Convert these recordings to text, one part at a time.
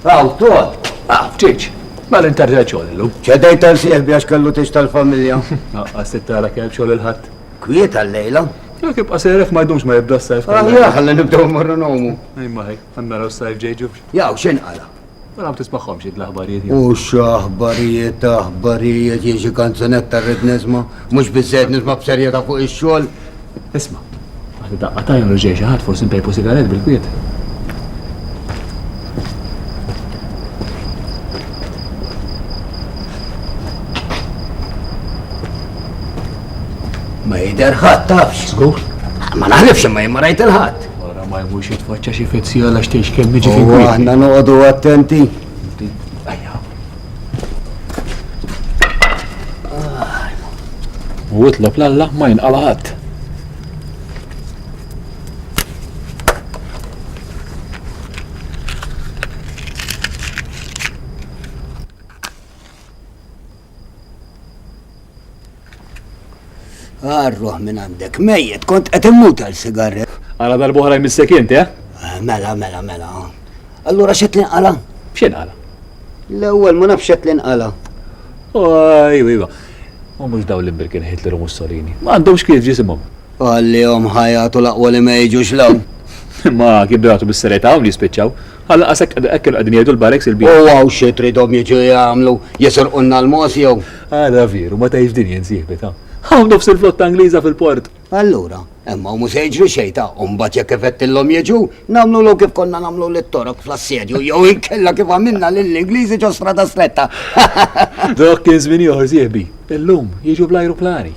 Għaw, tuħad. Ah, ċiċ, ma l-interġa ċollu. ċedajt għal sieħbi għax kellu tix tal-familja. Għas t-tara kelb xol il-ħat. Kwiet għal-lejla. Jek ibqa sejrek ma jdumx ma jibda s-sajf. Għalja, għalla nibdaw marru nomu. Imma ħek, għanna raw s-sajf ġejġu. Jaw, xen għala. Mela tismagħhomx id l-aħbarijiet. U x'aħbarijiet aħbarijiet jien xi kanzunetta rrid nisma' mhux biżejjed nisma' b'serjetà fuq ix-xogħol. Isma', għandi daqqa tajn u ġej xi ħadd forsi npejpu sigaret bil-kwiet. Ma jidher ħadd tafx. Żgur? Ma naħlifx imma jien ma rajt il-ħadd. Wara ma jmurx jitfaċċa xi fezzija għax tgħix kemm jiġi fin kwiet. Aħna noqogħdu attenti. U itlob l-Alla ma jinqala ħadd. Arruħ minn għandek, mejjet, kont qed immut għal sigarret. Għala darbohra jmissek inti, eh? eh? Mela, mela, mela. Allura xet l-inqala? Xet għala? L-ewwel ma nafx xet l-inqala. Oj, iva. U mhux daw l-imbirkin Hitler u Mussolini. Ma għandhomx kif ġisimhom. Qallihom ħa jagħtu l-aqwa li ma jiġux 'l hawn. Imma kien bgħatu bis-serjetà hawn li jispiċċaw. Ħa lanqas hekk hekk kienu qegħdin jgħidu l-barracks il-bieraħ. U hawn xi tridhom jiġu jagħmlu, jisirqulna l-mogħoż jew? Ara vieru, ma tgħidx din jien sieħbi ta'. Hawn nofs il-flotta Ingliża fil-port. Allura, hemm hawn mhu se jiġri xejn ta'. U mbagħad jekk ifettilhom jiġu, nagħmlulhom kif konna nagħmlu lit-Torok fl-assedju jew inkella kif għamilna lill-Ingliżi ġo Strada Stretta. Dok kien żmien ieħor sieħbi. Illum, jiġu bl-ajruplani.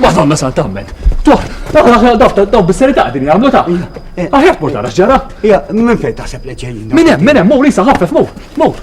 Madonna Santa Amment. Tuħ, daw bis-serita għadin jgħamlu ta' Aħjar tmur tara x'ġara. Ja, minn fejn taħseb li ġejjin. Minn hemm, minn hemm, mur isa ħaffef, mur, mur.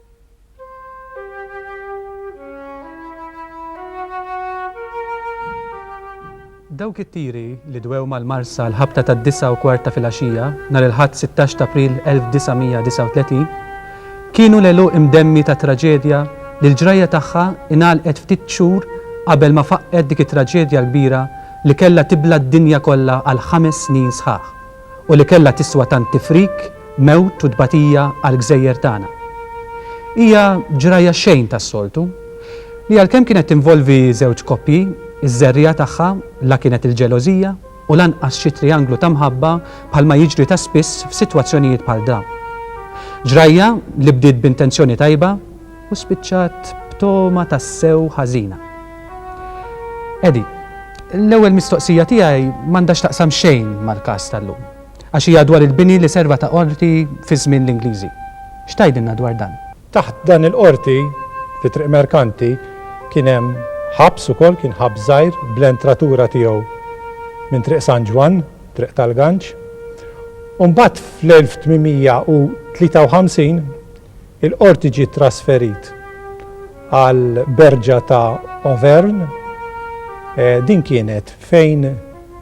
Dawk it-tiri li dwew mal-Marsa l-ħabta tad-disgħa u kwart ta' filgħaxija nhar il-Ħadd 16 t'April 1939 kienu l-għeluq imdemmi ta' traġedja li l-ġrajja tagħha ingħalqet ftit xhur qabel ma faqqgħet dik it-traġedja l-kbira li kellha tibla' d-dinja kollha għal ħames snin sħaħ. u li kellha tiswa tant tifrik, mewt u tbatija għall-gżejjer tagħna. Hija ġrajja xejn tas-soltu, li għalkemm kienet tinvolvi żewġ koppji, iż-żerriegħa tagħha la kienet il-ġelożija u lanqas xi trijanglu ta' mħabba bħalma jiġri ta' spiss f'sitwazzjonijiet bħal dawn. Ġrajja li bdiet b'intenzjoni tajba, U spiċċat b'togħma tassew ħażina. Eddie, l-ewwel mistoqsija tiegħi m'għandha x'taqsam xejn mal-każ tal-lum, għax hija dwar il-bini li serva ta' qorti fi żmien l-Ingliżi. X'tgħidilna dwar dan? Taħt dan il-qorti, fi Triq Merkanti, kien hemm ħabs ukoll, kien ħabs żgħir bl-entratura tiegħu minn Triq San Ġwann, Triq tal-Ganċ. U mbagħad fl-1853, Il-Qorti ġie trasferit għal Berġa ta' Auvergne. Din kienet fejn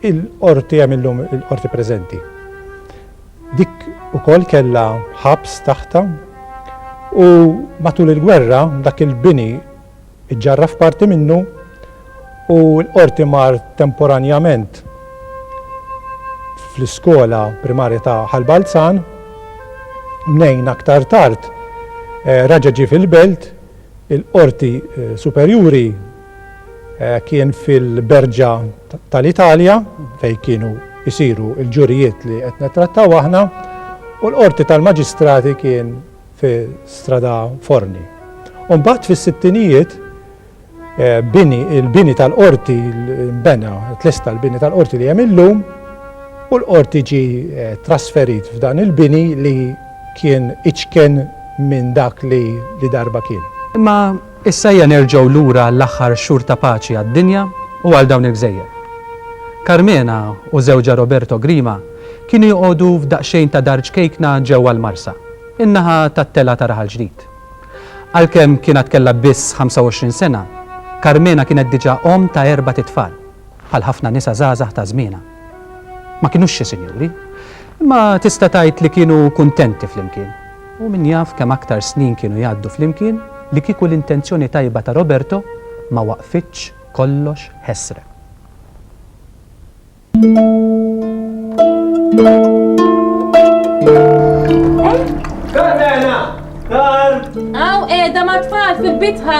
il-Qorti hemm illum il-Qorti preżenti. Dik ukoll kellha ħabs taħtha u matul il-gwerra dak il-bini Iġġarraf parti minnu u l-Qorti mar temporanjament fl-iskola primarja ta' Ħal Balzan. Mnejn aktar tard raġa' ġie fil-Belt, il-Qorti Superjuri kien fil-Berġa tal-Italja fejn kienu jsiru l-ġurijiet li qed nittrattaw aħna u l-Qorti tal-Maġistrati kien fi Strada Forni. U mbagħad fis-sittinijiet bini il-bini tal-qorti nbena, tlesta l-bini tal-qorti li hemm illum u l-qorti ġi trasferit f'dan il-bini li kien iċken minn dak li darba kien. Imma Issa ejja nerġgħu lura għall-aħħar xhur ta' paċi għad-dinja u għal dawn il-gżejjer. Carmena u żewġha Roberto Grima kienu joqogħdu f'daqsxejn ta' dar ċkejkna ġewwa l-Marsa, in-naħa tat-telgħa ta' raħal ġdid. Għalkemm kien għad kellha biss 25 sena, Carmena kienet diġà omm ta' erbat itfal. bħal ħafna nisa żgħażagħ ta' żmienha. Ma kinux xi sinjuri, imma tista' tgħid li kienu kuntenti flimkien. U min jaf kemm aktar snin kienu jgħaddu flimkien li kieku l-intenzjoni tajba ta' Roberto ma waqqfitx kollox ħesrem. Hawn qiegħda mat-tfal fil-bitħa.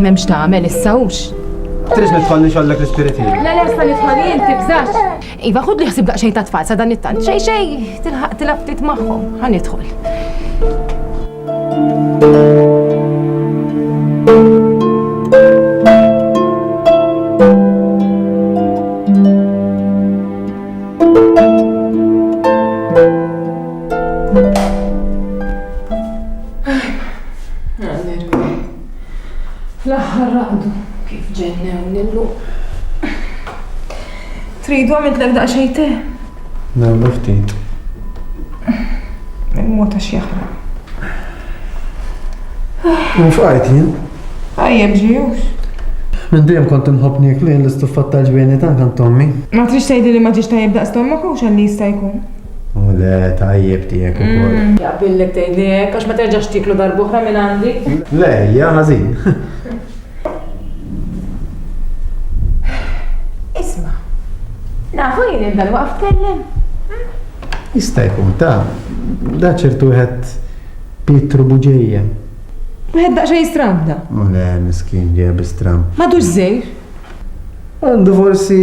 M'hemm x'tagħmel issa hux. Tridx nidħol nixgħollek l-ispirit jien. La le sta nidħol jien tibżax. Iva ħud li ħsib daqsxejn ta' tfal sa dan it-tant. Xej xej, tilħaq tilab ftit magħhom. Ħa nidħol. Alleluja. L-aħħar raqdu kif ġennew nillu. Tridu għamidlek daqsxejn te? Nagħmlu ftit. Il-mod għax jaħraq. Nfqajt jien. Għajjeb ġijux. Minn dejjem kont inħobb niekli l-istuffat tal-ġbejni tan kan tommi. Ma trix tgħidi li ma ġiex tajjeb daqs tommok u xalli jista' jkun. Le, tajjeb tiegħek ukoll. Mm, Jaqbillek tgħidlek għax ma terġax tiklu darb'oħra minn għandi. Le, hija ħażin. Isma', nafu jien il-dan waqf tkellem. Jista' jkun ta' da ċertu wieħed Pietru Buġejja. Wieħed daqsxejn stram da. U le, miskin ġeja bi stram. Madux żejr. Għandu forsi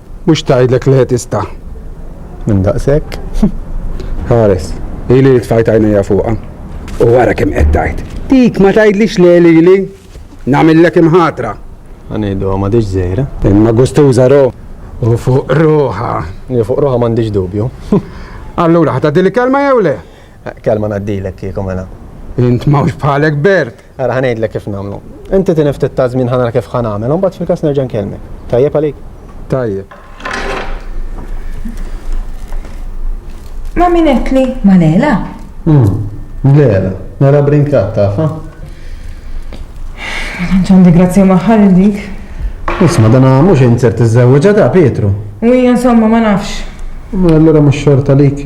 Mhux tgħidlek li tista'. Minn daqshekk. Ħares. Ili li tfajt għajnejja fuqha. U wara kemm qed tgħid. Dik ma tgħidlix le lili. Nagħmillek imħatra. Ħanieħduha m'għadhiex żgħira. Imma gustuża ro. U fuq ruħha. Li fuq ruħha m'għandix dubju. Allura ħa tgħaddili kelma jew le? Kelma ngħaddilek kieku mela. Int m'hawnx bħalek Bert. Ara ħa ngħidlek kif nagħmlu. Inti tieni ftit ta' żmien ħa nara kif ħa nagħmel, imbagħad fil-każ nerġa' nkellmek. Tajjeb għalik? Tajjeb. Ma min qedli ma Lela? Hmm, Lela, Lela brinkat tafa? Ma tantx għandi grazzja maħħar dik. Isma' dan mhux insert iżżewġa ta' Pietru. U hija insomma ma nafx. Ma allura mhux xorta lik.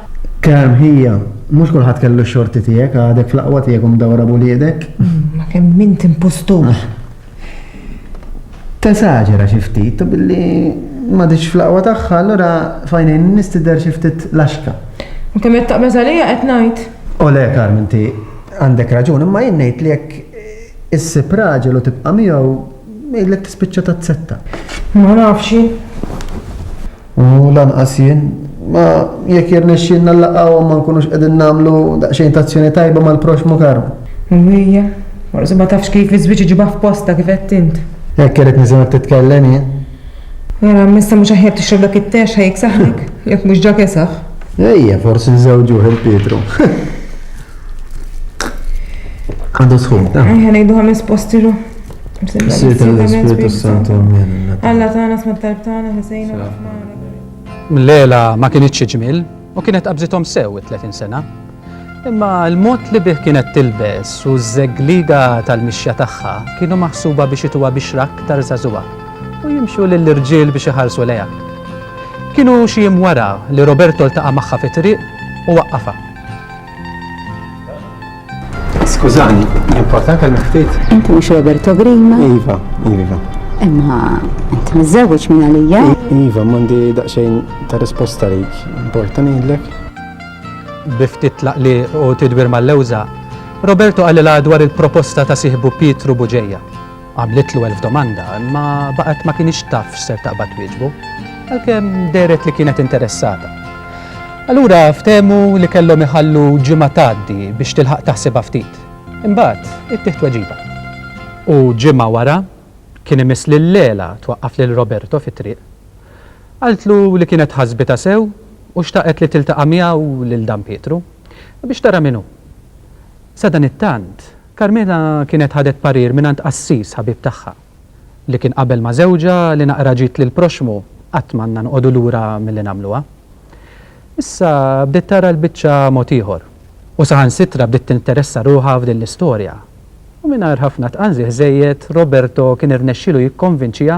Kemm hija. Mhux kulħadd kellu x-xorti tiegħek, għadek fl-aqwa tiegħek u mdawra b'uliedek. Ma kemm int impostur. Tesaġera xi ftit u billi m'għaditx fl-aqwa tagħha allura f'għajnejn in-nies tidher xi ftit laxka. U kemm qed taqbeż għalija qed ngħid. O le, Carm, inti għandek raġun, imma jien ngħid li jekk issib raġel u tibqa' miegħu, jgħidlek tispiċċa tazzetta. Ma nafx jien. U lanqas jien. Ma jekk jirnexxielna nlaqgħuhom ma nkunux qegħdin nagħmlu daqsxejn ta' azzjoni tajba mal-proxxmu Karm. U hija? Forsi ma tafx kif iż-żwieġ iġibha f'postha kif għedt int. Hekk irrid nisimgħek titkellem jien. Mela m'issa mhux aħjar tixrob dak it-te għax ħa jiksaħlek, jekk mhux ġa kesaħ. Ejja, forsi nżewġuh il Pietru. Għandu sħun, ta? Ejja ngħidu ħames posti ru. L-għela ma kienitx ġmiel u kienet qabżithom sew it-30 sena. Imma l-mod li bih kienet tilbes u ż-żeggliga tal-mixja tagħha kienu maħsuba biex ituha bixra aktar żagħżugħa u jimxu lill-irġiel biex iħarsu lejha. Kienu xi jiem wara li Roberto ltaqa' magħha fit-triq u waqqafha. Skużani, importanti għal ftit. Inti mhux Roberto Grima? Iva, iva. Imma inti miżewweġ minn għalija? Iva, m'għandi daqsxejn ta' risposta lejk. Importa ngħidlek. Biftit tlaq li u tidwir mal-lewża, Roberto qalilha dwar il-proposta ta' sieħbu Pietru Buġeja. Għamlitlu elf domanda, imma baqgħet ma kienx taf x'ser taqbad twieġbu, għalkemm dehret li kienet interessata. Allura ftehmu li kellhom iħallu ġimgħa tgħaddi biex tilħaq taħsibha ftit. Imbagħad ittieħ tweġiba. U ġimgħa wara, kien imiss lil Lela twaqqaf lil Roberto fit-triq. Qaltlu li kienet ħasbitha sew u xtaqet li tiltaqa' miegħu lil Dan Pietru, biex tara min hu. Sadanittant, Carmela kienet ħadet parir mingħand qassis ħabib tagħha, li kien qabel ma' żewġha li naqra ġid lill-proxxmu qatt m'għandna noqogħdu lura milli nagħmluha. Issa bdiet tara l-biċċa mod ieħor, u saħansitra bdiet tinteressa ruħha f'din l-istorja. U mingħajr ħafna tqanżiħ żejjed, Roberto kien irnexxielu jikkonvinċiha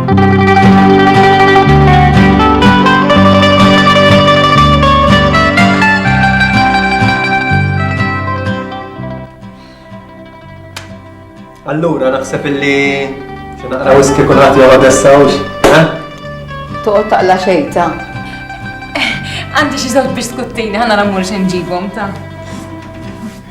Allura, naħseb illi xinaqra wiski kulħadd jew għadessa hux, eh? Toqgħod taqla xejn ta'. Għandi xi żewġ biskuttini ħana nagħmlu xi nġibhom ta'.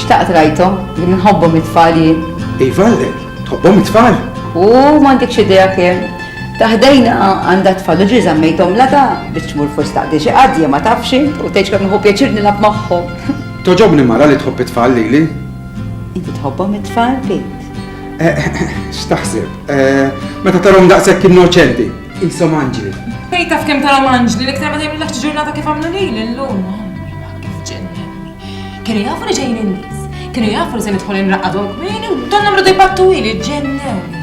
Xtaqt rajthom, li nħobbhom it-tfal jien. Iva, tħobbhom it-tfal? U m'għandikx idea kemm. Taħdejna għandha tfal u ġi żammejthom lada biex tmur fost taqdi xi qadja ma tafx u tgħidx kemm nħobb pjaċir nilgħab magħhom. Toġobni mara li tħobb it-tfal lili. Inti tħobbhom it-tfal bint. Eh, eh, eh, x'taħseb? Meta tarhom daqshekk innoċenti, ishom anġli. Bejta f'kemm tarhom anġli, l-iktar ma tgħidilekx ġurnata kif għamlu lili llum. Kif ġennemni. Kienu jafu li ġejjin in-nies. Kienu jafu li se nidħol inraqadhom kmieni u donna mradu jbattu ili ġennewni.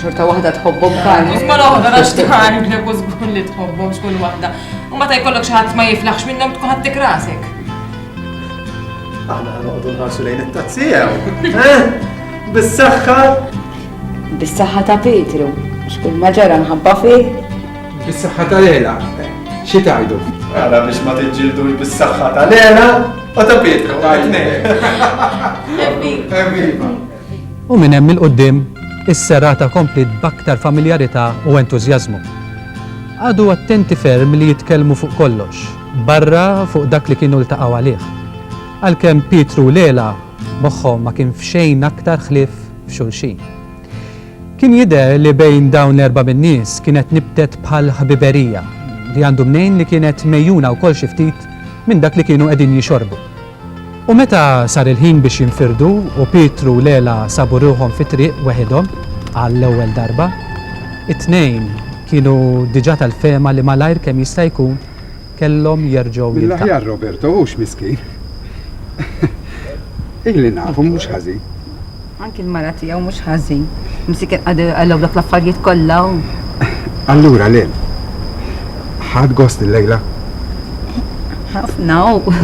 Xorta waħda tħobbhom kalmu. Ma l-oħra għax tħarglek u żgur li tħobbhom xkull waħda. U meta jkollok xi ħadd ma jiflaħx minnhom tkun ħadd tikrasek. Aħna noqogħdu nħarsu lejn it-tazzijew. Eh? Bis-saħħa. Bis-saħħa ta' Petru. Xkull ma ġara nħabba fih. Bis-saħħa tal-għela, xi tajdu? Għala biex ma tiġġildu bis-saħħa tal-għela, u ta' pietkom, għajtnej. Evviva! U minn hemm il-qoddim, is-serata komplit b'aktar familjarità u entużjażmu. Għadu attenti ferm li jitkellmu fuq kollox, barra fuq dak li kienu ltaqgħu għalih. Għalkemm Pietru Lela moħħhom ma kien f'xejn aktar ħlief f'xulxin. Kien jidher li bejn dawn l-erba' min-nies kienet nibtet bħal ħbiberija, li għandu mnejn li kienet megħjuna wkoll xi ftit minn dak li kienu qegħdin jixorbu. U meta sar il-ħin biex jinfirdu u Pietru u l-għela sabu ruħhom fit-triq weħidhom għall-ewwel darba, it-tnejn kienu diġà tal-fehma li malajr kemm jista' jkun, kellhom jerġgħu jiltaqgħu. Mill-aħjar Roberto hux miskin. Ili nafu mhux ħażin. Anki l-mara tiegħu mhux ħażin. Msik għallew dak l-affarijiet kollha u. Allura le. Ħad gost il-lejla? Ħafna u.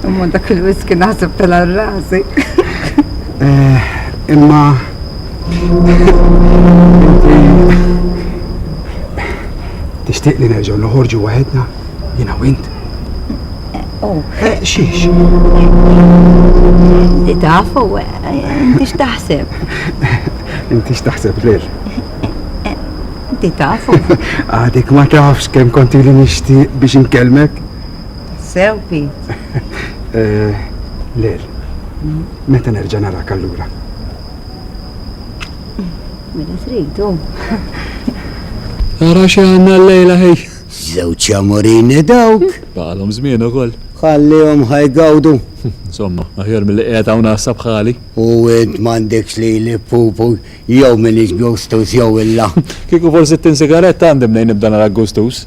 Imma dak il-wiski naħseb tal-rasi. Eh, imma. Tixtieq li nerġgħu noħorġu waħedna jiena u int? Oh. Eh, xiex? Inti tafu, inti x'taħseb? Inti x'taħseb lil? Inti tafu. Għadik ma tafx kemm konti li nixtieq biex inkellmek? Sew, Pete. Eh, lil, meta nerġa' narak allura? Mela tridu. Ara xi għandna l-lejla ħej. Żewġ amorini dawk. Baqalhom żmien ukoll. Ħallihom ħajgawdu. Insomma, aħjar mill-li qiegħed hawn għassa bħali. U int m'għandekx li li pupu jew minn gustus jew illa. Kieku forsi t-tin sigarett għandi mnejn nibda nara gustus.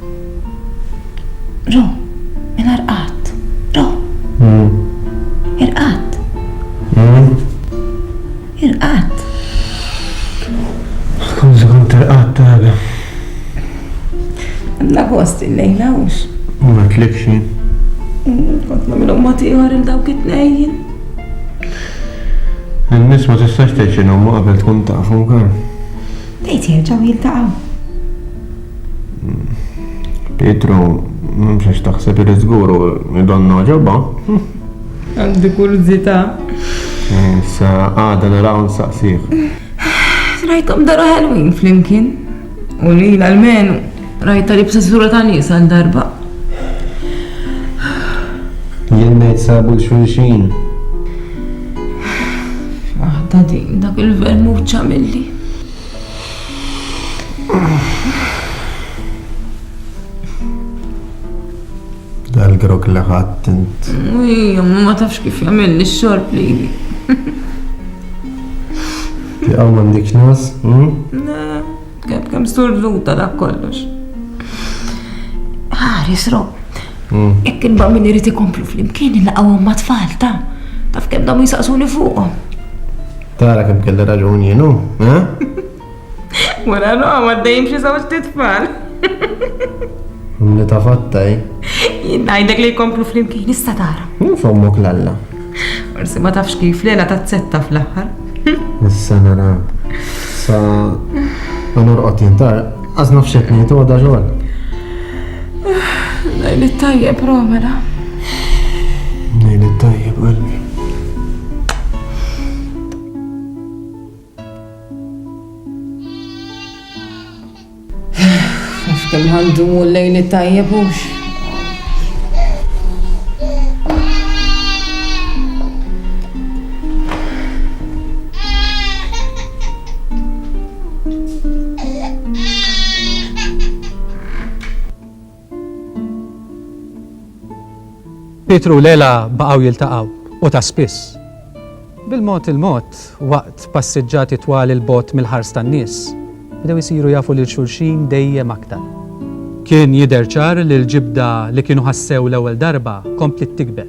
Ru, minn Arqat. Ru. Irqad. Irqad. Skużi, kont irqad tara. Għandna gost illejla hux. Ma tlibx jien. Kont nagħmilhom mod ieħor il dawk it-tnejn. In-nies ma tistax tgħid x'inhuma qabel tkun tafhom, Karen. Tgħid jerġgħu jiltaqgħu. Pietru, mhux għax taħseb irid żgur u jidonna ġobha. Għandi kurżità. Issa għada naraw nsaqsih. Rajthom daru ħelwin flimkien. U lil almenu rajta li b'sessura ta' nies għal darba. Jien ngħid sabu l-xulxin. Waħda din dak il-vermuċċa milli. Dal-grok li ħadd int. Ija, ma ma tafx kif jagħmel li xorb li. Tiqaw m'għandek nas? Kep kem surduta da kollox. Ħares rob. Jekk il-ba min irid ikomplu fl-imkien il-laqgħu ma tfal ta' taf kemm dam jisaqsuni fuqhom. Tara kemm kelli raġun jien hu, eh? Wara roqgħu għaddejjin xi żewġ titfal. Li ta' fatta, eh? Jien ngħidlek li jkomplu flimkien issa tara. Min fommok l-alla? Forsi ma tafx kif lela ta' tsetta fl-aħħar. Issa nara. Sa ma norqod jintar. Għaz naf xed nejt, u għada xogħol. Lejl it-tajjeb, Romela. Lejl it-tajjeb, qalbi. Kem għandu mu l-lejl tajjeb ux. Pietru u Lela baqgħu jiltaqgħu, u ta' spiss. Bil-mod il-mod, waqt passiġġati twal 'il bogħod mill-ħars tan-nies, bdew isiru jafu lil xulxin dejjem aktar. Kien jidher ċar li l-ġibda li kienu ħassew l-ewwel darba kompliet tikber.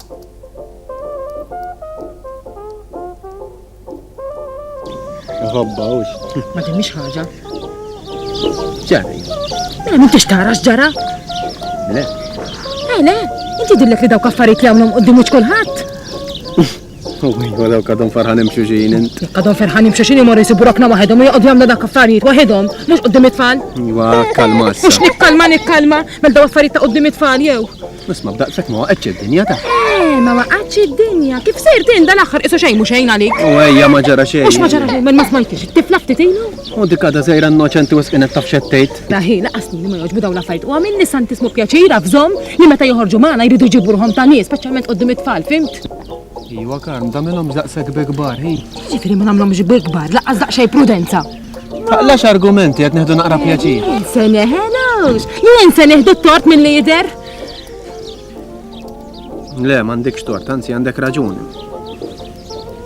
Ħabba ux. Ma timmix ħaġa. Ġari. Mela ma tix tara x'ġara? Le. Eh, le, inti dillek li dawk affarijiet li għamlhom qudiem mhux kulħadd. U daw kadhom farħanim xuxin int. Kadhom farħanim xuxin imur jisibu rokna waħedhom u joqgħod jagħmlu dak affarijiet waħedhom, mhux qudiem it-tfal. Iwa, kalma. Mhux nikkalma nikkalma, mel daw affarijiet ta' qudiem it-tfal jew. Nisma' b'daqshekk ma waqgħetx id-dinja ta'. Eh, ma waqgħetx id-dinja. Kif sejr tin dal-aħħar isu xejn mhux xejn għalik. U ejja ma ġara xejn. Mhux ma ġara xejn, ma smajtix, tifla ftit ilu. U dik għadha sejra innoċenti u sqinet taf xettejt. Daħi, laqas li ma jogħġbu dawn l-affarijiet u għamil nisan tismu pjaċira f'żomm li meta joħorġu magħna jridu jġibu ruħhom ta' nies, speċjalment qudiem it-tfal, fimt? Iwa karm, damilhom daqshekk bi kbar, hi. Ġifieri ma nagħmlhomx bi kbar, laqas daqsxejn prudenza. Taqlax argumenti qed neħdu naqra pjaċir. Se neħelux, jien se neħdu t-tort minn lider. Le, m'għandekx tort, anzi għandek raġuni.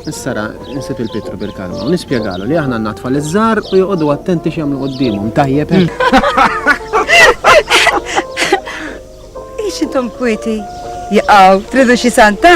Issara, nsib il-Pietru bil-kalma u nispjegalu li aħna natfa l żar u joqogħdu attenti x'jagħmlu qudiemhom tajjeb. Eh? Ix intom kwiti? Jaqaw, tridu xi santa?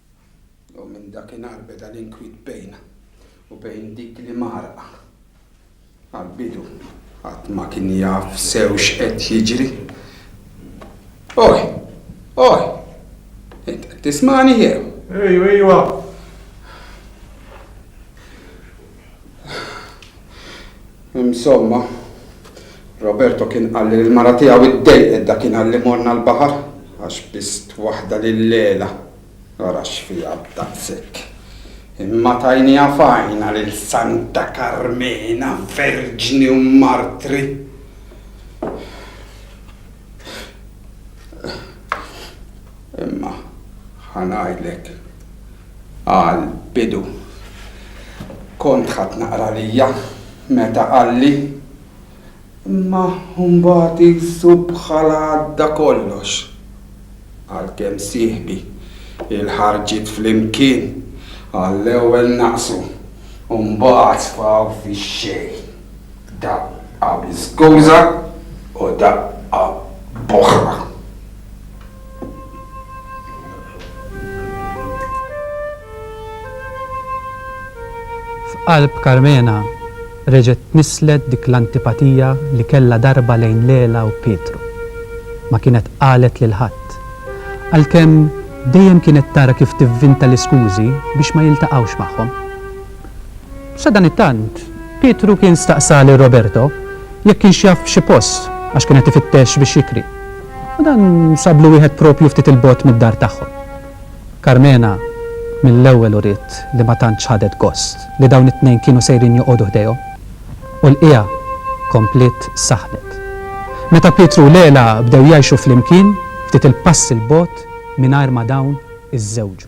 U minn dakinhar beda l-inkwiet bejna u bejn dik li mgħarrqa. Għall-bidu ħadd ma kien jaf sew x'qed jiġri. Oj! Oj! Int qed tismagħni jew? Ejwa, ejwa! Insomma, Roberto kien qalli li l-mara tiegħu ddejqet dakinhar li morna l-baħar għax bist waħda lil-Leila. Ara x'fiha daqshekk! Imma tajniha f'għajnha lil Santa Karmena, Verġni u Martri. Imma ħa ngħidlek. Għal bidu kont ħadt naqra għalija meta qalli, imma mbagħad qisu bħala għadda kollox. Għalkemm sieħbi, il-ħarġiet flimkien għall-ewwel naqsu u mbagħad sfaw fix-xejn. Daqqa bi skuża u daqqa b'oħra. F'qalb Karmena reġgħet tnisslet dik l-antipatija li kellha darba lejn Lela u Pietru. Ma kienet qalet lil ħadd. Għalkemm dejjem kienet tara kif tivvinta l-iskużi biex ma jiltaqgħux magħhom. Sadanittant, Pietru kien staqsa lil Roberto jekk kienx jaf xi post għax kien qed ifittex biex jikri. U dan sablu wieħed proprju ftit 'il bogħod mid-dar tagħhom. Karmena mill-ewwel uriet li ma tantx ħadet gost li dawn it-tnejn kienu sejrin joqogħdu ħdejhom, u l-qiegħa kompliet saħnet. Meta Pietru u Lela bdew jgħixu flimkien, ftit 'il pass 'il bogħod mingħajr ma dawn iżżewġu.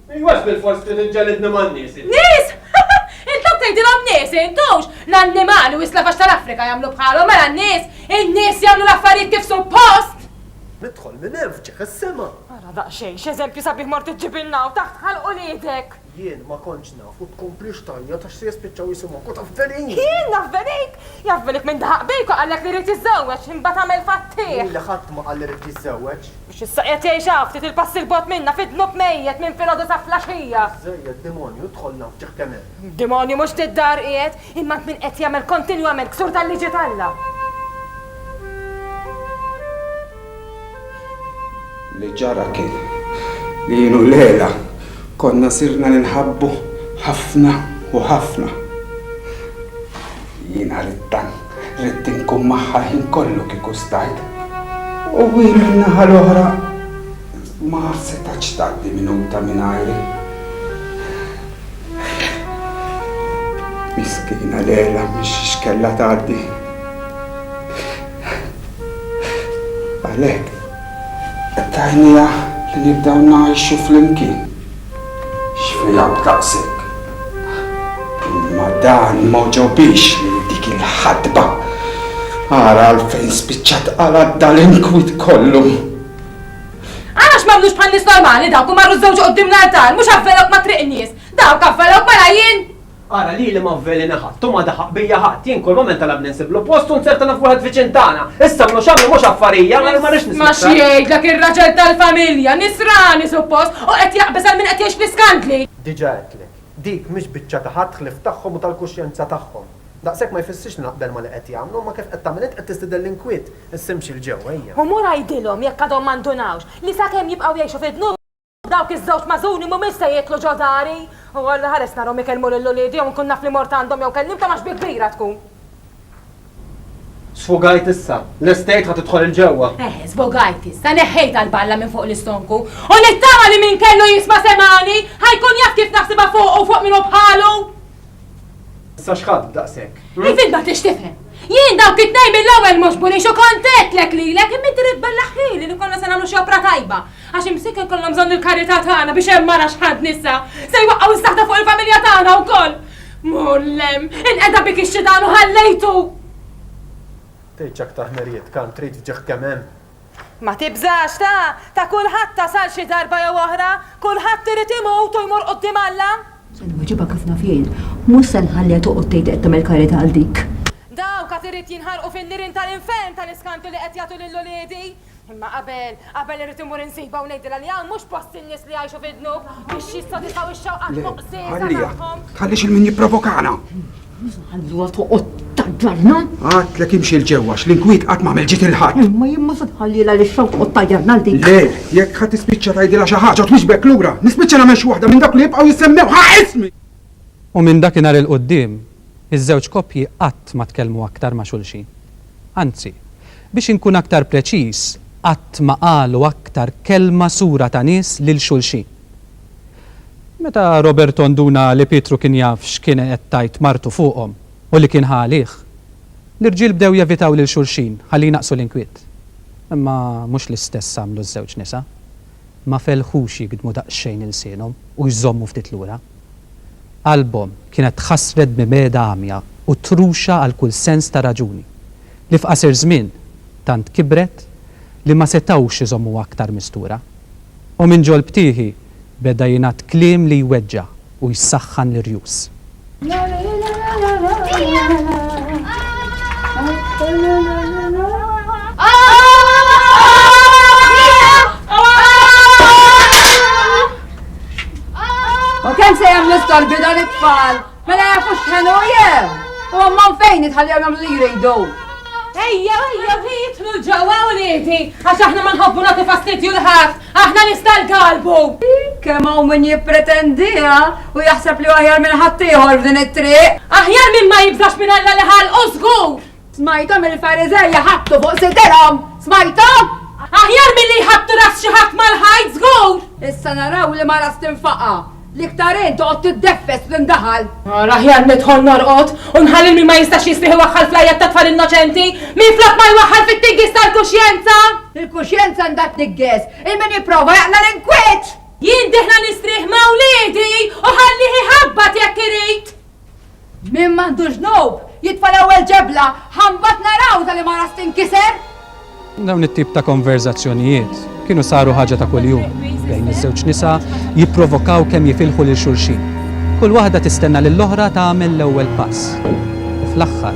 Iwwax bilfors trid iġġelidni man-nies int. Nies! Intlok tgħidilhom nies int hux! L-annimali u s-slavaġ tal-Afrika jagħmlu bħalhom mela n-nies! In-nies jagħmlu l-affarijiet kif suppost! Nidħol minn hemm f'ġieħ is-sema. Ara daqsxejn x'eżempju sabiħ mort iġġibilna hawn taħt ħalq uliedek! Jien ma kontx naf u tkomplix tgħajjat għax se jispiċċaw jisimgħuk u taf velin! Jien naf velin! Jaf velin min daħaq bejk u qallek li jrid jiżżewweġ, imbagħad għamel fattih! Lili ħadd ma qal li jrid jiżżewweġ. Biex issa qiegħed jgħix hawn, ftit il-passi 'l bogħod minna, fi dnub mejjet minn filgħodu sa flaxija! Żżejjed demonju, dħolna hawn f'Ġaħkemen! Demonju mhux ftit dar qiegħed, imma int min qed jagħmel kontinwament ksur tal-liġi t'Alla! Li ġara kien li jien u Leila konna sirna ninħabbu ħafna u ħafna. Jiena ridt tank Ridt inkun magħha l-ħin kollu kieku stajt. U hi min-naħa l-oħra ma setgħetx tgħaddi minuta mingħajri. Miskina Lejla mhix x'kellha tgħaddi. Għalhekk, qed tgħinniha li nibdew ngħixu flimkien. X'fiha b'daqshekk? Imma dan ma għoġobhiex lil dik il-ħadba. Ara għalfejn spiċċat qala' dal-inkwit kollu. Ara x'magħmlux bħan-nies normali dawk u marru żewġu quddiem l-artal, mhux avvelawk ma' triq in-nies. Dawk avvelawk mela jien! Ara lili ma vvelena ħadd u ma daħaq bija ħadd. Jien kull mument talabni nsiblu post u nsertana f'wieħed viċin tagħna. Issa mlu x'għamlu mhux affarija, allura ma rridx nisma' aktar. Isma' x'jgħidlek ir-raġel tal-familja, nisrani suppost, u qed jaqbeż għal min qed jgħix fl-iskandli! Diġa' għedtlek, dik mhix biċċa ta' ħadd ħlief tagħhom u tal-kuxjenza tagħhom. Daqshekk ma jfissirx li naqbel ma' li qed jagħmlu, imma kif qed tagħmel int qed tistieden l-inkwiet, issa imxi 'l ġewwa ejja. U mur għidilhom, jekk għadhom ma ndunawx, li sakemm jibqgħu jgħixu fid-dnub, Dawk iż-żewġ magħżuni mhumiex se jieklu ġo dari. O Alla, ħares narhom ikellmu lil uliedi jew inkun naf li mort għandhom jew kellimthom għax bi kbira tkun. Sfogajt issa. Lest tgħid ħa tidħol 'il ġewwa? Eħe, sfogajt issa, neħħejtha l-balla minn fuq l-istonku. U nittama li min kellu jisma' semgħani, ħa jkun jaf kif naħsibha fuqu u fuq min hu bħalu. Issa x'ħadd daqshekk? Ifil ma tix tifhem. Jien dawk it-tnejn mill-ewwel mhux bunix u kont għedtlek lilek imma inti rid tbellaħ ħili li konna se nagħmlu xi opra tajba. Għax imsieker jkollhom bżonn il-karità tagħna biex hemm mara x'ħadd nisa se jwaqqgħu s-saħta fuq il-familja tagħna wkoll! Mgħollem! Inqeda bik ix-xitan u ħallejtu! Tgħid x'aktar ħmerijiet kan trid f'ġieħ kemm hemm! Ma tibżax, ta! Ta' kulħadd tasal xi darba jew oħra! Kulħadd irid imut u jmur quddiem Alla! Se nwiġibha kif naf jien. Mhux se nħalliha toqgħod tgħid li qed tagħmel karità għal dik. Dawk għad irid jinħarqu fin-nirien tal-infern tal-iskantu li qed jagħtu lil uliedi! Imma qabel, qabel irrid immur insibha u ngħidilha li hawn mhux post in-nies li jgħixu fid-dnub biex jissodisfaw ix-xewqat moqsiesa tagħhom. Le, ħallieha, tħallix il-min jipprovokana. Ħalluha toqgħod taġġarna. Għadtlek imxi l ġewwa l-inkwiet qatt m'għamel ġid il-ħadd. Imma jien ma se tħallilha li xew toqgħod taġġarna dik. Le, jekk ħadd tispiċċa tgħidilha xi ħaġa u twiġbek lura, nispiċċa nagħmel xi waħda minn dawk li jibqgħu jissemmew ħa ismi! U minn dakinhar 'il quddiem, Iż-żewġ koppji qatt ma tkellmu aktar ma' xulxin. Anzi, biex inkun aktar preċiż, qatt ma qalu aktar kelma sura ta' nies lil xulxin. Meta Roberto nduna li Pietru kien jaf x'kien qed tgħid martu fuqhom u li kien ħa għalih, l-irġiel bdew jevitaw lil xulxin ħalli jnaqqsu l-inkwiet. Imma mhux l-istess għamlu ż-żewġ nisa. Ma felħux jigdmu daqsxejn ilsienhom u jżommu ftit lura. Qalbhom kienet tħassret b'mibegħda għamja u truxa għal kull sens ta' raġuni, li f'qasir żmien tant kibret li ma setgħux iżommuha aktar mistura. U minn ġolb tiehi beda jingħad kliem li jweġġa' u jsaħħan l-irjus. U kemm se jagħmlu storbi dan it-tfal? Mela jafu x'ħenu jew! U għamman fejn jitħallew jagħmlu li jridu. Ejja, ejja, jitlu ġewwa u lieti, għax aħna ma nħobbu nagħtu fastidju l-ħadd, aħna nista' l-galbu. Kemm hawn min jippretendiha u jaħseb li aħjar minn ħadd ieħor f'din it-triq. Aħjar minn ma jibżax minn Alla li ħalqu żgur. Smajthom il-Fariżej iħabbtu fuq sidirhom! Smajthom? Aħjar milli jħabbtu ras xi ħadd mal-ħajt żgur! Issa naraw li mara stinfaqa, li iktar in toqgħod tiddeffes fl-indaħal. Ara aħjar nidħol norqod u nħalli lil min ma jistax jistrieħ iwaħħal fl-għajjat tat-tfal innoċenti, minflok ma jwaħħal fit-tiggies tal-kuxjenza! Il-kuxjenza għandha tnigges, il min jipprova jaqla' l-inkwiet! Jien diħla nistrieħ ma' wliedi u ħallih iħabbat jekk irid! Min m'għandu ġnub, jitfa' l-ewwel ġebla, ħa mbagħad naraw ta' liema ras tinkiser! Dawn it-tip ta' konverżazzjonijiet kienu saru ħaġa ta' kuljum bejn iż-żewġ nisa, jipprovokaw kemm jifilħu lil xulxin. Kull waħda tistenna lill-oħra tagħmel l-ewwel pass. U fl-aħħar.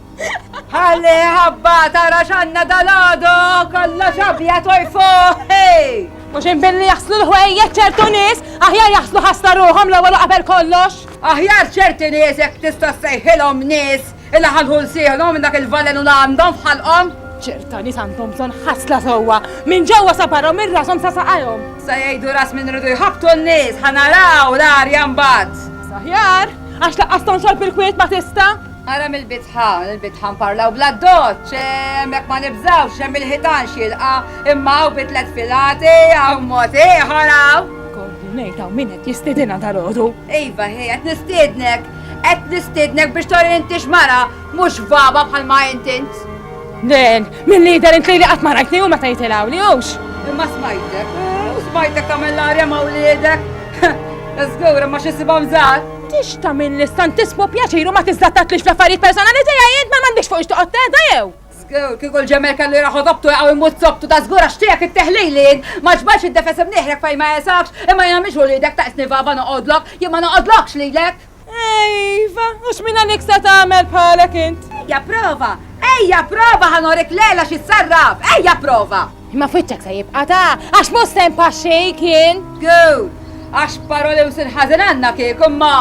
Ħalli ħabba tara x'għandna dalgħadu kollha xabja tojfu. Mhux inbilli jaħslu l-ħwejjeġ ċertu nies, aħjar jaħslu ħassa ruħhom l-ewwel u qabel kollox. Aħjar ċerti nies jekk tista' ssejħilhom nies illi ħalħu lsieħhom minn dak il-valenu li għandhom f'ħalqhom. ċerta nies għandhom bżonn ħasla sewwa minn ġewwa sa barra u minn rashom sa saqajhom. Sa jgħidu ras minn ridu jħabbtu n-nies, ħa naraw l-arja mbagħad. Saħjar, għax laqqas tonxol bil-kwiet ma tista'. Ara mill-bitħa, l-bitħa nparlaw bl-addoċċ, hemmhekk ma nibżgħux, hemm il-ħitan x'jilqa', imma hawn bi tliet filati, hawn mod ieħor hawn! Gordu, ngħid hawn min qed jistiedinha dalgħodu? Iva, ħi, qed nistiednek, qed nistiednek biex turi li intix mara, mhux vaba bħal ma int int. Len, milli jidher int lili qatt ma rajtni u ma tgħid il-Għawli, hux? Imma smajtek, u smajtek tagħmel l-arja ma' wliedek. Żgur, imma x'insibhom żgħar! Tix tagħmel l-Santismu pjaċir u ma tiżlattattlix fl-affarijiet personali tiegħi int ma m'għandekx fuq ixtoqgħod tgħedha jew? Żgur, kieku l-ġemel kellu jraħ odobtu jaqgħu jmut sobtu ta' żgur għax tiegħek it-teħlili int ma ġbadx id-defes imnieħrek fejn ma jesafx, imma jiena mhix uliedek taqisni vava noqgħodlok, jien ma noqgħodlokx lilek! Iva, u x'minn għalik se tagħmel bħalek int? Ejja prova! Ejja prova ħa norik l-għela xi ssarraf! Ejja prova! Imma f'wiċċek se jibqa' ta', għax mhux se npaxxik jien! Good! Għax paroli u sir ħażin għandna kieku, imma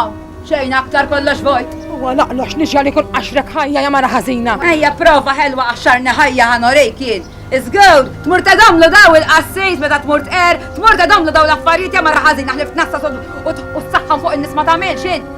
xejn aktar kollox vojt! Huwa laqlox li ġiegħli nkun qaxrek ħajja ja mara ħażina! Ejja prova ħelwa qaxxarni ħajja ħa norik jien! It's good! Tmur tgħidhomlu daw il-qassis meta tmur tqerr, tmur tgħidhomlu daw l-affarijiet ja mara ħażina ħlift naħsad u u s-saħħan fuq in-nies ma tagħmilx int!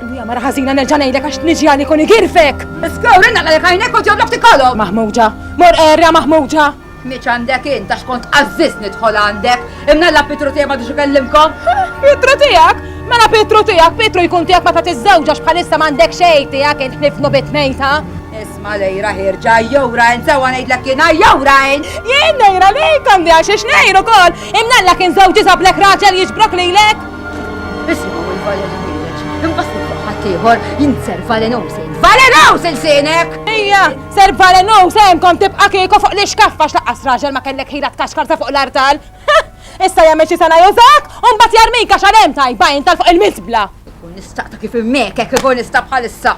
Hija mara ħażina nerġa' ngħidlek għax tniġi għalik u nigirfek. Iskow rinna għalek għajnek u ġoblok tikolhom. Maħmuġa, mor erja maħmuġa. Miċ għandek int għax kont għażżiż nidħol għandek. Imnalla Pietru tiegħek ma ikellimkom. Pietru tiegħek? Mela Pietru tiegħek, Pietru jkun tiegħek meta tiżżewġax bħalissa m'għandek xejn tiegħek int ħnifnu bit mejta. Isma lejra ħirġa jowra int sewa ngħidlek jiena jowra int. Jien nejra lejk għandi għax ix nejru kol. Imnalla kien żewġi sablek raġel jiġbrok lilek. Isimgħu il-Valerie Village, imbagħad nitloq ħaddieħor jien Sir Valenou se jitvaleraw silsinek! Ejja, Sir Valenou se jenkom tibqa' kieku fuq l-ixkaffa x'laqqas raġel ma kellek ħila tkaxkar sa fuq l-artal! Issa jagħmel xi sena jużak u mbagħad jarmik għax għal hemm tajba int għal fuq il-miżbla! Ikun nistaq ta' kif immekek ikun nista' bħalissa!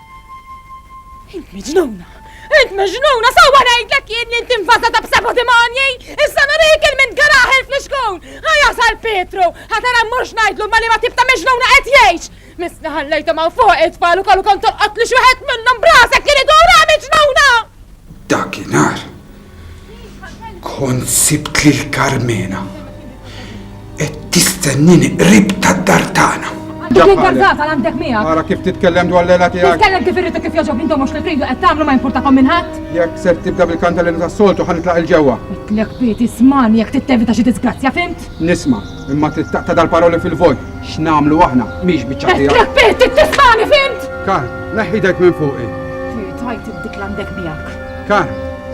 Int miġnuna! Int miġnuna! Sewwa ngħidlek jien li int invażata b'seba' dimoni! Issa nurik il-mint garaħel fl-ixkun! Ħa jasal Pietru! Ħa tara mmurx ngħidlu ma' liema tip ta' miġnuna qed jgħix! Missni ħallejthom hawn fuq it-tfal u kellu kont tolqot lil xi wieħed minnhom b'rasek jien idur, ha miġnuna! Dakinhar, Kont sibt lil Karmena qed tistennini qrib tad-dar tagħna. Dik l-inkargata għandek miegħek. Ara kif titkellem dwar l-ela tiegħek. Titkellem kif irrid kif jogħġob intom mhux li tridu qed tagħmlu ma jimpurtakom minn ħadd. Jekk ser tibda bil-kanta li tas-soltu ħa nitlaq il-ġewwa. Itlek pieti smani jekk tittevita xi disgrazzja fimt? Nisma, imma trid taqta' dal-paroli fil-vojt. X'nagħmlu aħna mhix biċċa tiegħek. Itlek pieti tismani fimt? Kar, neħħidek minn fuqi. Tajt dik l-għandek miegħek. Kar,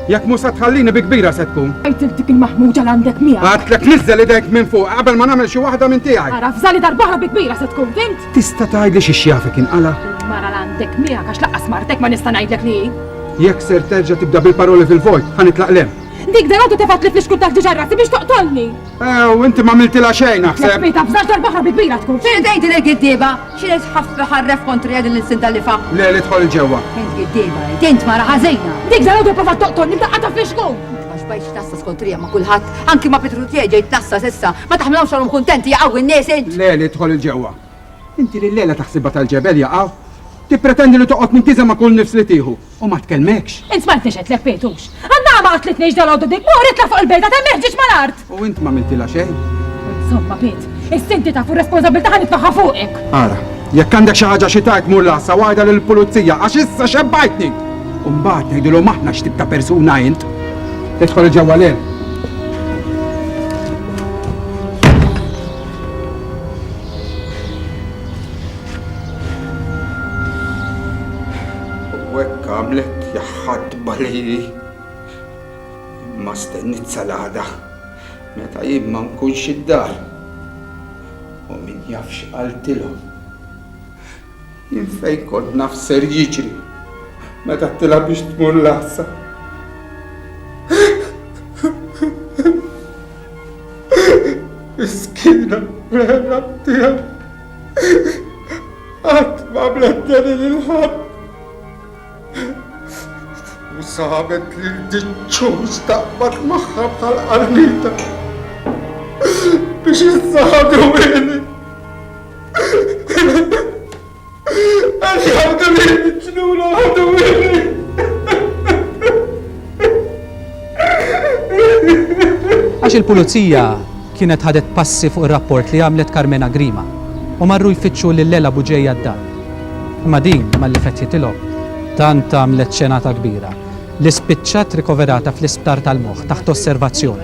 jekk mhux se tħallini bi kbira se tkun. Għidlek dik il-maħmuġa l-għandek miegħek. Għadtlek niżżel idejk minn fuq qabel ma nagħmel xi waħda minn tiegħi. Ara fżali darbohra bi kbira se tkun fimt. Tista' tgħidli xi xjafek inqala? Mara l-għandek miegħek għax laqqas martek ma nista' ngħidlek li. Jekk ser terġa' tibda bil-paroli fil-vojt, ħanitlaq lem. Dik dan għadu tefat li fl-ixkul tal-ġiġarrati biex toqtolni. U inti ma miltila xejn naħseb. Ħbita bżax darb'oħra bi kbira tkun. Xi tgħid din il-giddieba? Xi li tħaff iħarref kontrija din l-ilsien tal-lifa? Le, li dħol 'il ġewwa. Int giddieba int, int mara ħażina. Dik dalgħodu pprovat toqtolni b'daqqata fl-ixkun! Int ma xbajtx tnassas kontrija ma' kulħadd, anki ma' Pietru tiegħi ġej tnassas issa, ma taħmilhomx għalhom kuntenti jaqgħu n-nies int! Le, li dħol 'il ġewwa. Inti li llejla taħsibha tal-ġebel jaqaw, tippretendi li toqgħod mintiża ma' kull nifs li tieħu u ma tkelmekx? Int smajtnix qed lek Pejtux? Għan-nagħa ma qatlitnix dalgħodu dik, mur itla' fuq il-bejda ta' Meħġieġ mal-art! U int m'għamiltilha xejn? Insomma, Pit, issa inti taf u r-responsabbiltà ħa nitfagħha fuqek! Ara, jekk għandek xi ħaġa xi tgħid mur l-għassa u għidha lill-pulizija għax issa xebbajtni! U mbagħad ngħidilhom aħna x'tip ta' persuna int! Idħol ġewwa lil. U hekk għamlet jaħħadba lili. Imma stennit sal-għada meta jien ma nkunx id-dar. U min jaf x'qaltilhom. Jien fejn kont naf x'ser jiġri meta tilgħab biex tmur l-għassa. Miskina, rehna tiegħu. Qatt ma bletni lil ħadd. U sabet li l-ġiċċuż taqbad magħha bħal qarnita biex jizzadu għini. Għax jgħabdu li ġnuna għadu għini. Għax il-pulizija Kienet ħadet passi fuq ir-rapport li għamlet Carmena Grima u marru jfittxu lil Lela Buġeja d-dar. Imma din malli fetħitilhom, tant għamlet xenata kbira li spiċċat rikoverata fl-isptar tal-moħħ taħt osservazzjoni.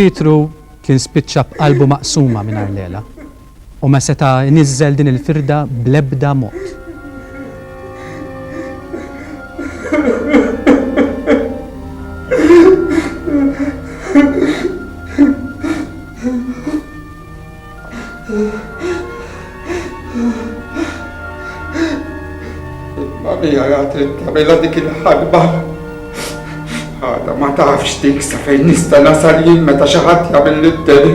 Pietru kien spiċċa b'qalbu maqsuma mingħajr l-għela. U ma seta' jniżżel din il-firda bl-ebda mod. Il-Marija ja trid tagħmilha dik il-ħarba. Għadha ma tafx dik sa fejn nista' nasal jien meta xi ħadd jagħmel lid-deni.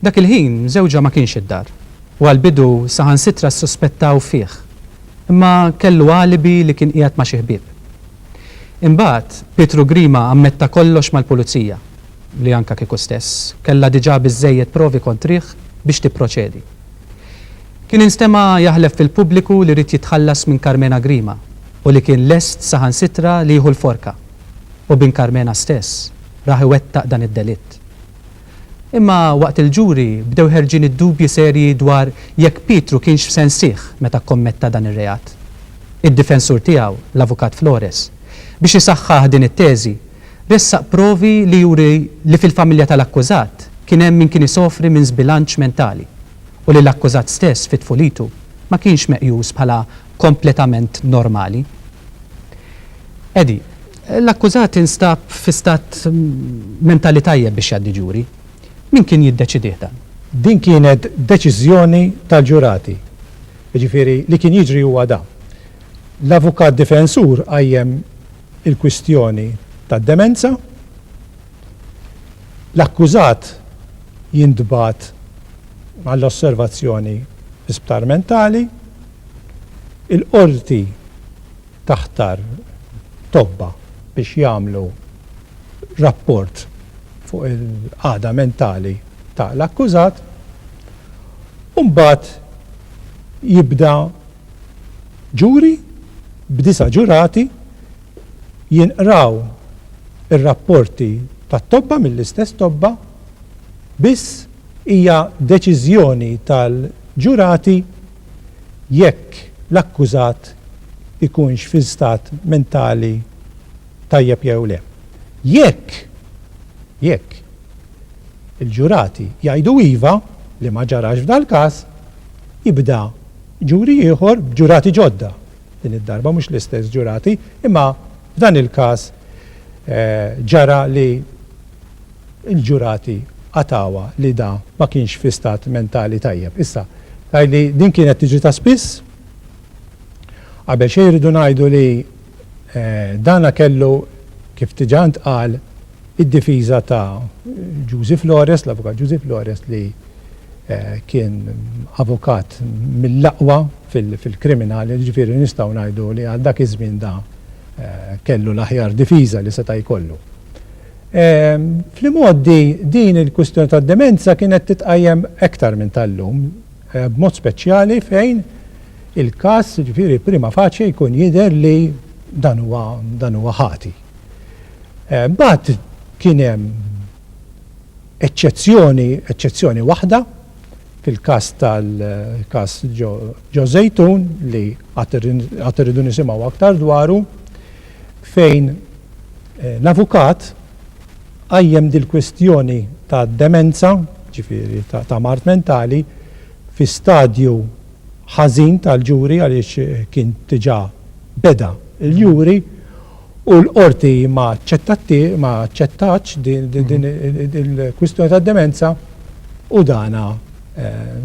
Dak il-ħin żewġha ma kienx id-dar u għall-bidu saħansitra ssuspettaw fih, imma kellu alibi li kien qiegħed ma' xi ħbieb. Imbagħad, Pietru Grima ammetta kollox mal-Pulizija, li anke kieku stess, kellha diġà biżżejjed provi kontrih biex tipproċedi. Kien instema' jaħlef fil-pubbliku li ried jitħallas minn Karmena Grima u li kien lest saħansitra li jieħu l-forka. U bin Karmena stess raħ iwettaq dan id-delitt. Imma waqt il-ġuri bdew ħerġin id-dubji serji dwar jekk Pietru kienx f'sensih meta kkommetta dan ir-reat. Id-difensur tiegħu, l-Avukat Flores, biex isaħħaħ din it-teżi, ressaq provi li juri li fil-familja tal-akkużat kien hemm min kien isofri minn żbilanċ mentali u li l-akkużat stess fi tfulitu ma kienx meqjus bħala kompletament normali. Eddie. L-akkużat instab fi stat mentali tajjeb biex jgħaddi ġuri. Min kien jiddeċidieh dan? Din kienet deċiżjoni tal-ġurati. Jiġifieri li kien jiġri huwa dan. L-avukat difensur qajjem il-kwistjoni tad-demenza. L-akkużat jintbagħat għall-osservazzjoni fi sptar mentali. Il-Qorti taħtar tobba biex jagħmlu rapport fuq il-qagħda mentali ta' l-akkużat u mbagħad jibda ġuri b'disa' ġurati jinqraw ir-rapporti tat-tobba mill-istess tobba biss hija deċiżjoni tal-ġurati jekk l-akkużat ikunx fi stat mentali tajjeb jew le. Jekk, jekk, il-ġurati jgħidu iva, li ma ġarax f'dal-każ, jibda ġuri ieħor b'ġurati ġodda, din id-darba mhux l-istess ġurati, imma f'dan il-każ ġara li, Il-ġurati qatgħuha li da ma kienx fi stat mentali tajjeb. Issa, tgħid li din kienet tiġri ta' spiss? Qabel xejn irridu ngħidu li dana kellu, kif diġà ntqal, id-difiża ta' Ġużi Flores, l-Avukat Ġużi Flores li kien avukat mill-aqwa fil-kriminali, jiġifieri nistgħu ngħidu li għal dak iż-żmien da kellu l-aħjar difiża li seta' jkollu. Fl-imgħoddi din il-kwistjoni tad-demenza kienet titqajjem aktar minn tal-lum, b'mod speċjali fejn il-każ, jiġifieri prima facie jkun jidher li dan huwa dan huwa ħati. Mbagħad kien hemm eċċezzjoni, eċċezzjoni waħda, fil-każ tal-każ Ġo Żejtun li għad irridu nisimgħu aktar dwaru, fejn l-avukat qajjem dil-kwistjoni ta' demenza, ġifieri ta' mard mentali, fi stadju ħażin tal-ġuri għaliex kien diġà beda l-juri, u l-Qorti ma aċċettatx din il-kwistjoni tad-demenza u dana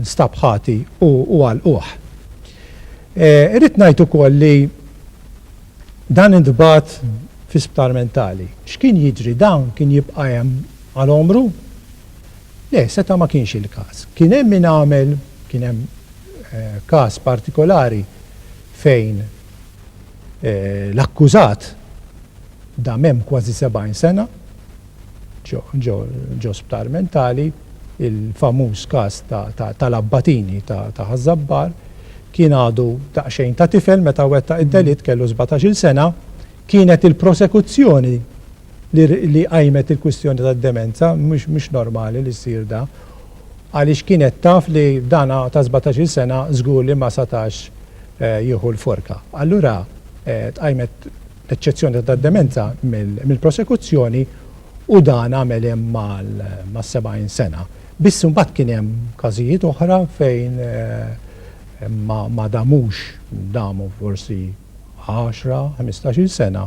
nstab ħati u għalquh. Irrid ngħid ukoll li dan intbagħat fi sptar mentali. X'kien jiġri? Dan kien jibqa' hemm għal għomru? Le, seta' ma kienx il-każ. Kien hemm min għamel, kien hemm każ partikolari fejn L-akkużat dam hemm kważi 70 sena ġo sptar mentali, il-famuż każ tal-Abbatini ta' Ħaż-Żabbar, kien għadu daqsxejn ta' tifel meta wettaq id-delitt, kellu sbatax-il sena, kienet il-prosekuzzjoni li qajmet il-kwistjoni tad-demenza, mhux normali li jsir dan. Għaliex kienet taf li dana ta' sbatax-il sena żgur li ma satax jieħu l-forka. Allura tqajmet l-eċċezzjoni ta' tad-demenza mill-prosekuzzjoni u dan għamel hemm mas-70 sena. Biss imbagħad kien hemm każijiet oħra fejn ma damux, damu forsi għaxra, ħmistax-il sena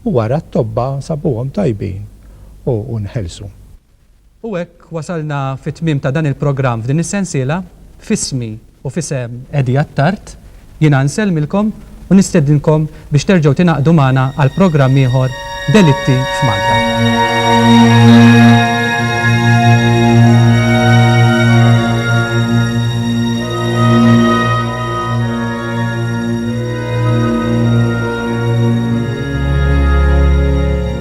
u wara t-tobba sabuhom tajbin u nħelsu. U hekk wasalna fit-tmiem ta' dan il-programm f'din is-sensiela. F'ismi u f'isem Eddie Attard, jiena nsellmilkom u nistedinkom biex terġgħu tingħaqdu magħna għal programm ieħor Delitti f'Malta.